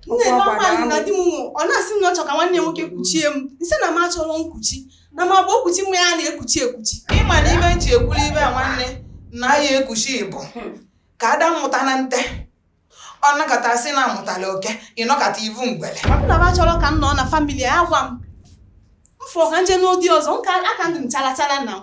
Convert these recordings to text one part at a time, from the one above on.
nne na ọkwa na di m nwụ ọ na-asị na ọ chọ ka nwanne nwoke kuchie m nsị na m achọrọ nkuchi na ma bụ ekuchi nwa ya na-ekuchi ekuchi ịma na ibe nji ekwuru ibe a nwanne na ya ekuchi ịbụ ka ada mmụta na nte ọ nọkata sị na amụtala oke ịnọkata ivu ngwele na m achọrọ ka m nọ na famili ya gwa m mfọ ka nje nụ di ọzọ nka aka ndụ m chalachala na m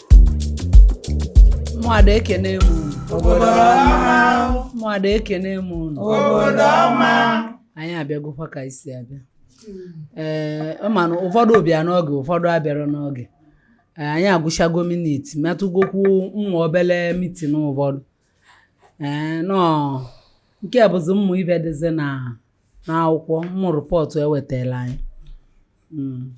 ụmụada ekene m unu obodo ọma ụmụada ekene m unu obodo ọma anyị abịagokwa ka anyị si abịa ee ị ma na ụfọdụ bịa n'oge ụfọdụ abịarọ n'oge Ee, anyị agụchago minit metụgokwu ụmụ obele mitin ụfọdụ ee nọ nke a bụzi ụmụ ive dịzi na n'akwụkwọ ụmụ rịpọtụ ewetara anyị Mm.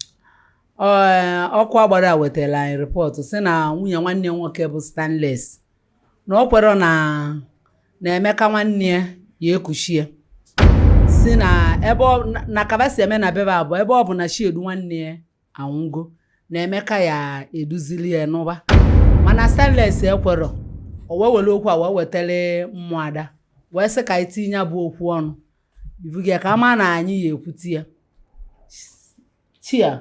Ee, ọkụ agbara a wetara anyị rịpọtụ sị na nwunye nwanne nwoke bụ Stanles na o kwerọ na na Emeka nwanne ya ya ekuchie si na ebe ọ- na- na ka ba si eme na be ba bụ ebe ọ bụ na Chiedu nwanne ya anwụgo na Emeka ya eduzili ya n'ụba mana Stanles ekwerọ o wee were okwu a wee wetara ụmụada wee sị ka anyị tinye ya bụ okwu ọnụ ivugo ka ama na anyị ya ekwuti ya chia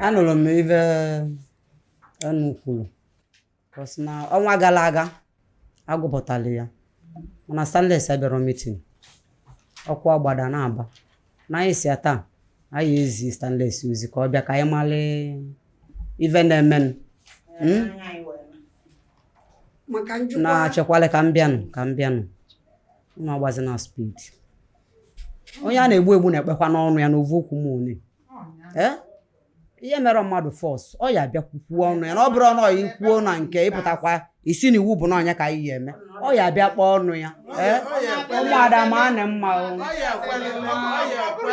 anụrụ m ive unu kwuru bọs na ọnwa gara aga agụpụtala ya mana stanles abịarọ mitin ọkụ agbada na-aba na anyị si ya taa anyị ezi stanles ozi ka ọ bịa ka anyị mara ive na-emenụ hmm? na-achekwala ka m bịanụ ka m bịanụ unu agbazi na spid onye a na-egbu egbu na-ekpekwa n'ọnụ ya n'ovu okwu m one Eh? ihe mere mmadụ fọs ọ ya abịa kwukwuo ọnụ ya na ọ bụrọ unu ya ekwuo na nke ịpụtakwa isi na iwu bụ na ọ nya ka anyị ya eme ọ ya abịa kpọọ ọnụ ya Eh? ụmụada ma anị mma o Ọ ya ekwelele, ọ ya ekwe.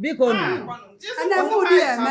biko nụ a na-eme ụdị ya eme